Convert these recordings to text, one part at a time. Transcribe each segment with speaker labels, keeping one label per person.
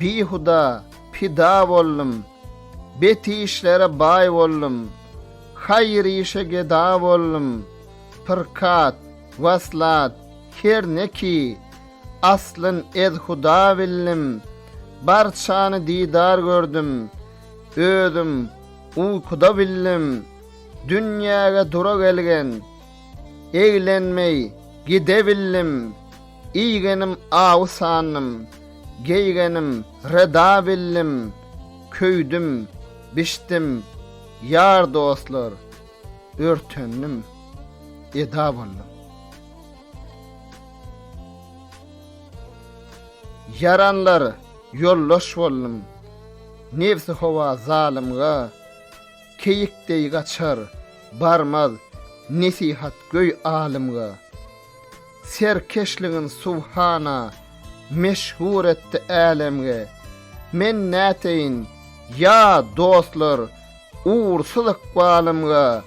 Speaker 1: Bihuda pida boldum, Bet işlere baý boldum, Haýyr işe geda boldum, Pyrkat, waslat, her neki, Aslyn edhuda bildim, Barçany didar gördüm, Özüm uýkuda bildim, Dünýäge dura gelgen, Eglenmeý gide bildim. Iýgenim awy sandym, geýgenim reda bildim, köýdüm, bişdim, ýar-dostlar, örtendim, eda boldum. Ýaranlar ýoldaş boldum, nebsi howa zalymga, keýik deý gaçar, barmaz, nesihat göý alymga. Serkeşligin subhana meşhur etdi älemge Men näteýin ýa dostlar Ugursyz ykbalymga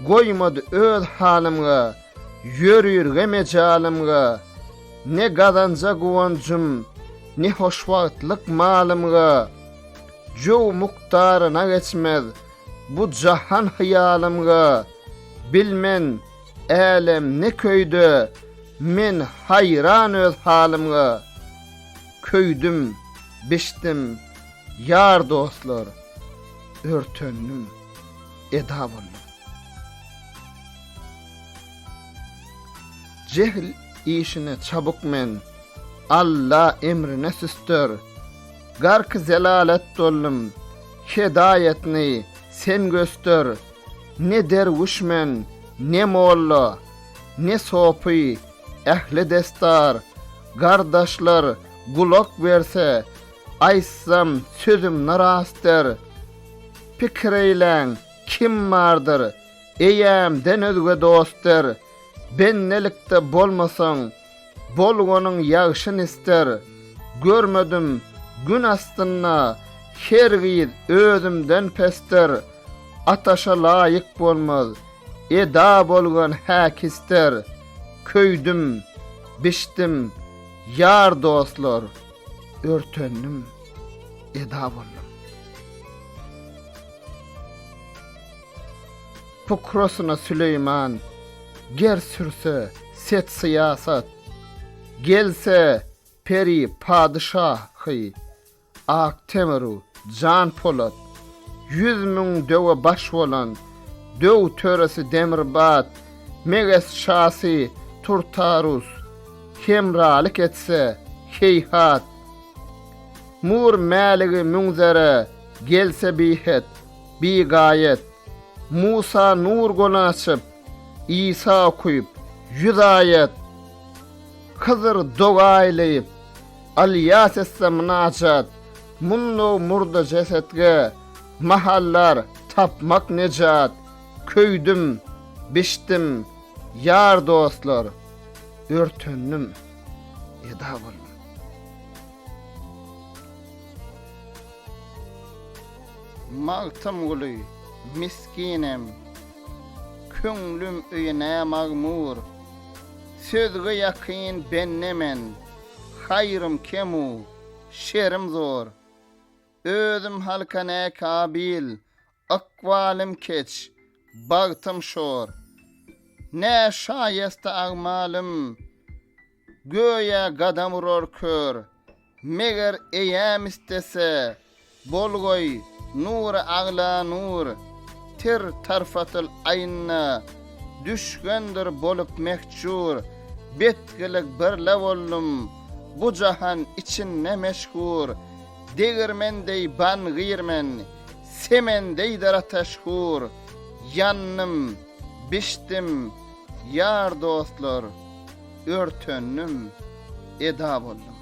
Speaker 1: Goýmady öz halymga Ýörürge mejalymga Ne gazanja guwanjym Ne hoşwagtlyk malymga Jöw mukdaryna geçmez Bu jahan hyýalymga Bilmen Älem ne köýde, men haýran öz halymga. Köýdüm, biçdim, ýar dostlar, örtendim, eda boldum. Jehl işine çabuk men, Alla emrine süster. Garky zelalet doldum, hedaýatyny sen göster. Ne derwüş men, ne molla, ne sopy, ähli desdar, gardaşlar gulak berse, aýtsam sözüm narasdyr. Pikir eýläň, kim bardyr, eýämden özge dostdyr. Bendelikde bolmasaň, Bolganyň ýagşyn ister. Görmedim Gün astynda Her gyz özümden pesdir. Ataşa laýyk bolmaz Eda bolgan häk ister. Köýdüm, bişdim, ýar dostlar Örtendim, eda boldum. Pukrasyna Süleýman, ger sürse, set-syýasat, Gelse, peri padyşahy, ak temir-u jan polat, Ýüz müň döwe baş bolan, döw töresi Demirbat, Meges şasy Turtarus, hemralyk etse, heýhat, Mur mäligi Münzere, gelse bihet, Bigaýet, Musa nur göni açyp, Isa okuýup, ýüz aýat, Hydyr doga aýlaýyp, Alýas etse mynajat, Mundaw murda jesetge, Mahallar tapmak nejat, Köýdüm, bişdim, ýar dostlar, Örtendim, eda boldum. Magtymguly, misginem, köňlüm öýüne magmur, Sözge ýakyn bende men, haýrym kem-u, şerim zor. Özüm halka ne kabil, ykbalym keç, bagtym şor. Ne şaýesta agmalym, Göýä gadam urar kör. Meger eýäm istese, Bolgoý, nury agla nur, Tir tarfatyl aýnna, Düşgendir bolup mehjur. Betgilik birle boldum, Bu jahan içinde meşhur. Degirmen deý ban girmen, Semen deýdir ateş hur. Ýandym, bişdim, ýar-dostlar. örtendim, eda boldum.